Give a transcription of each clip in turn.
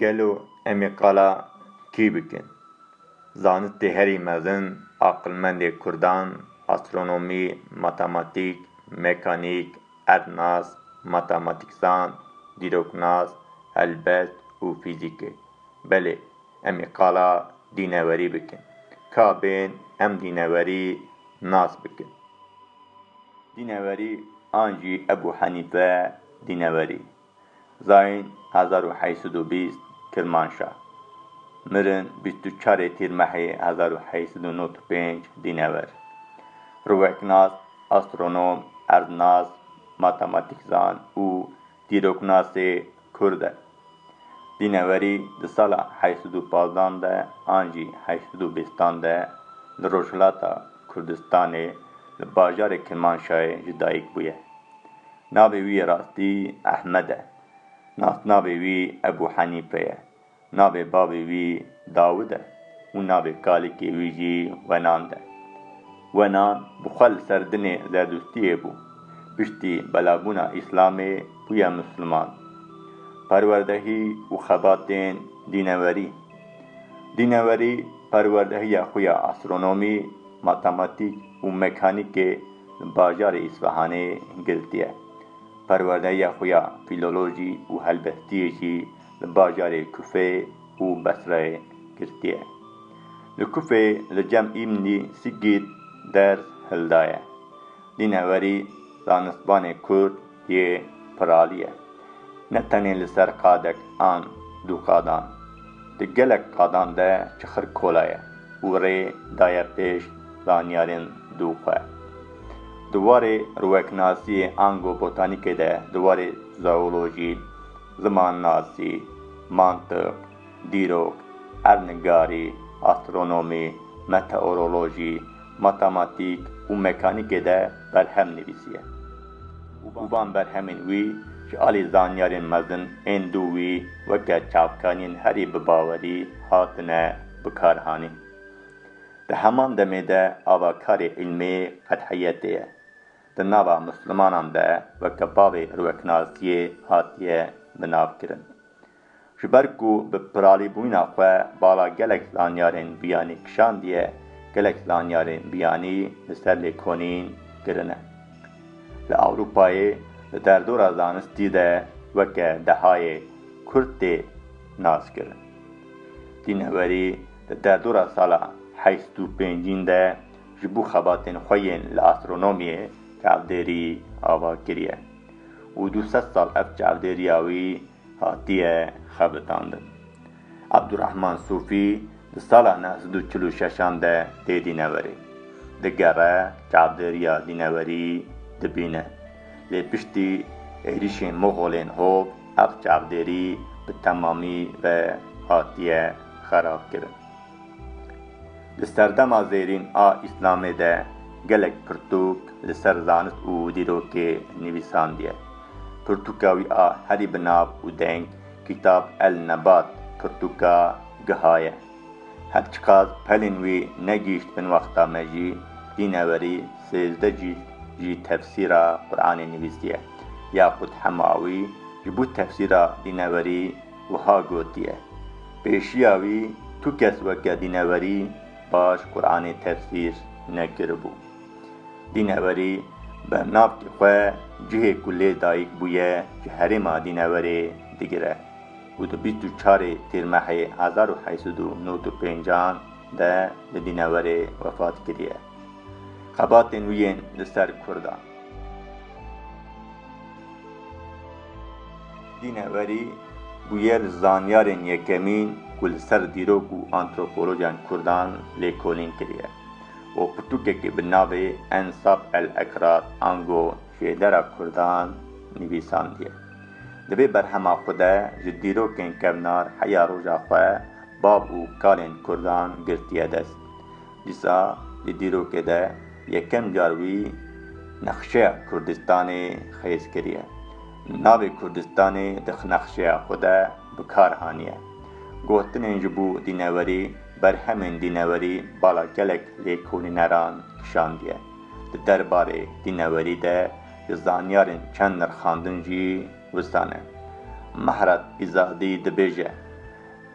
Gelo em ê qala kî bikin? Zanistê herî mezin, aqilmendê kurdan, astronomî, matematîk, mekanîk, erdnas, matematîkzan, dîroknas, helbest û fîzîk e. Belê, em ê qala dînewerî bikin. Ka bên em dînewerî nas bikin. Dîneverî an jî Ebû Henîfe Dîneverî, Zayin hezar û heşt sed û bîst, Kirmanşah, mirin bîst û çarê Tîrmehê hezar û heşt sed û nod û pênc, dînever, rûveknas, astronom, erdnas, matematîkzan û Dîroknasê Kurd e. Dînewerî di sala heşt sed û pazdeh an de an jî heşt sed û bîst an de li Rojhilata Kurdistanê li bajarê Kirmanşahê ji dayik bûye. Navê wî yê rastî Ehmed e. Nasnavê wî Ebû Henîfe ye. Navê bavê wî Dawid e û navê kalikê wî jî Wenand e. Wenand bi xwe li ser dinê Zerdûştiyê bû. Piştî belabûna Îslamê bûye Misliman. Perwerdehî û xebatên Dînewerî Dînewerî perwerdehiya xwe ya astronomî, matematîk û mekanîkê li bajarê Îsfahanê girtiye. Perwerdehiya xwe ya fîlolojî û helbestiyê jî li bajarê Kufê û Besreyê girtiye. Li Kufê li cem Îmnî Sîgît ders hildaye. Dînewerî zanistvanê Kurd yê piraliye. Ne tenê li ser qadek an du qadan. Di gelek qadan de çixir kola ye û rê daye pêş zanyarên du xwe. Di warê rweknasiyê ango botanîkê de, di warê zoolojî, Zimannasî, mantiq, dîrok, erdnigarî, astronomî, meteorolojî, matematîk û mekanîkê de berhem nivîsiye û van berhemên wî ji alî zanyarên mezin ên dû wî weke çavkaniyên herî bibawerî hatine bikarhanîn. Di heman demê de avakarê îlmê qedheyetê ye. Di nava Muslimanan de weke bavê Hirwekinasiyê hatiye binavkirin. Ji ber ku bi piralîbûyina xwe bala gelek zanyarên biyanî kişandiye, gelek zanyarên biyanî li ser lêkonîn kirine. Li Ewropayê di derdora zanistî de weke dehayê Kurd tê naskirin. Dînhewerî di derdora sala heşt û pêncîn de ji bo xebatên xwe yên li astronomiyê çavdêrî ava kiriye û du sed sal ev çavdêriya wî hatiye xebitandin. Abdurahman Sûfî di sala neh sed û çil û şeşan de tê dîneverê. Digere çavdêriya dîneverî dibîne. Lê piştî êrîşên Moxolên hov ev çavdêrî bi temamî ve hatiye xerabkirin. Li serdema zêrîn a Îslamê de gelek pirtûk li ser zanist û dîrokê nivîsandiye. Pirtûka wî a herî bi nav û deng Kîtab El Nebat pirtûka giha ye. Her çiqas pelên wî negihîşt bin wexta me jî dînewerî sêzdeh cîld jî tefsîra Quranê nivîsiye. Yaqût Hemawî ji bo tefsîra dînewerî, Wiha gotiye, Pêşiya wî tu kes weke dînewerî baş Quranê tefsîr nekiribû. Dînewerî bernavkê xwe cihê ku lê dayik bûye ji herêma dînewerê digire û di bîst û çarê Tîrmehê hezar û heşt sed û nod û pêncan de li dînewerê wefat kiriye. Xebatên wî yên li ser Kurdan. Dîne werî bûye li zanyarên yekemîn ku li ser dîrok û antropolojiyan Kurdan lêkolîn kiriye û pirtûkekê bi navê Ensab el-Ekrad ango Şêdera Kurdan nivîsandiye. Di vê berhema xwe de ji dîrokên kevnar heya roja xwe, bav û kalên Kurdan girtiye dest. Dîsa di dîrokê de yekem car wî nexşeya Kurdistanê xêz kiriye. Navê Kurdistanê di nexşeya xwe de bi kar haniye. Gotinên ji bo dînewerî, berhemên dînewerî bala gelek lêkolîneran kişandiye. Di der barê dînewerî de ji zanyarên çend nirxandin jî wisa ne. Mehrat Pîzadî dibêje,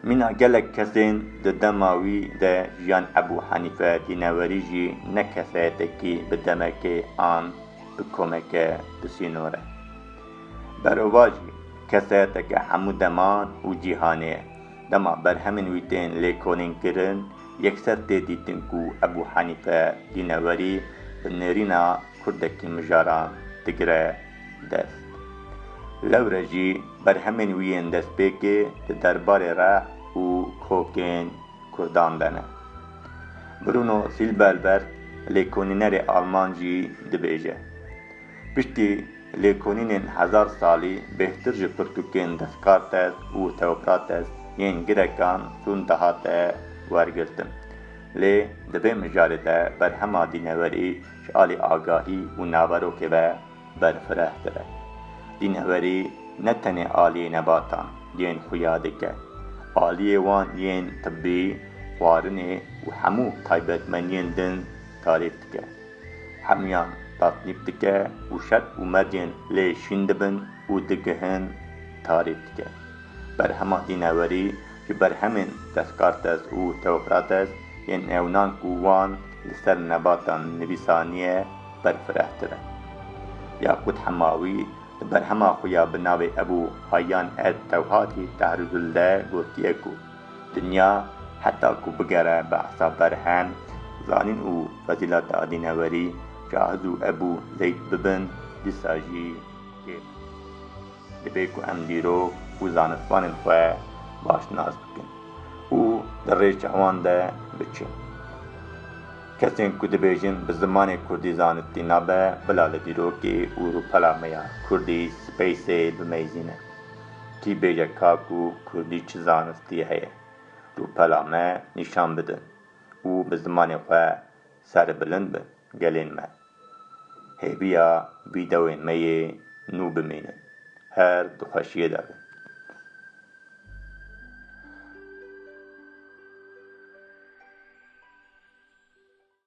Mîna gelek kesên di dema wî de jiyan Ebû Henîfe tînewerî jî ne keseyetekî bi demekê an bi komeke di sînor e. Berova jî keseyeteke hemû deman û cîhanê ye. Dema berhemên wî tên lêkolînkirin yekser tê dîtin ku Ebû Henîfe tînewerî bi nêrîna kurdekî mijaran digire. dest. Lewre jî berhemên wî yên destpêkê di derbarê re û kokên Kurdan de ne. Bruno Silberberg lêkonînerê alman jî dibêje, Piştî lêkonînên hezar salî bêhtir ji pirtûkên Descartes û Theocrates yên Grekan tund dihate wergirtin. Lê di vê mijarê de berhema dîneverî Ji alî agahî û naverokê ve berfireh dibe. Dînhwerî ne tenê aliyê nebatan yên xuya dike, aliyê wan yên tibî, xwarinê û hemû taybetmeniyên din tarîf dike. Hemûyan tasnîf dike û şert û mercên lê şîn dibin û digihin tarîf dike. Berhema dînewerî ji berhemên Descartes û Theocrates yên newnan ku wan li ser nebatan nivîsaniye berfirehtir e. Yakût Hemawî li berhema xwe ya bi navê Ebû Hayyan et Tewhati Tahruzul de gotiye ku dinya heta ku bigere bi esa berhem, zanîn û fezîleta dînewerî, Cahiz û Ebû Zeyd bibin, dîsa jî kêf. Divê ku em dîrok û zanistvanên xwe baş nas bikin û di rêça wan de biçin. Kesên ku dibêjin bi zimanê kurdî zanistî nabe, bila li dîrokê û rûpela me ya kurdî space-ê bimeyzîne. Kî bêje ka ku kurdî çi zanistî heye, rûpela me nîşan bidin û bi zimanê xwe serbilind bin gelên me. Hêviya vîdeoyên me yê nû bimînin. Her di xweşiyê de bin.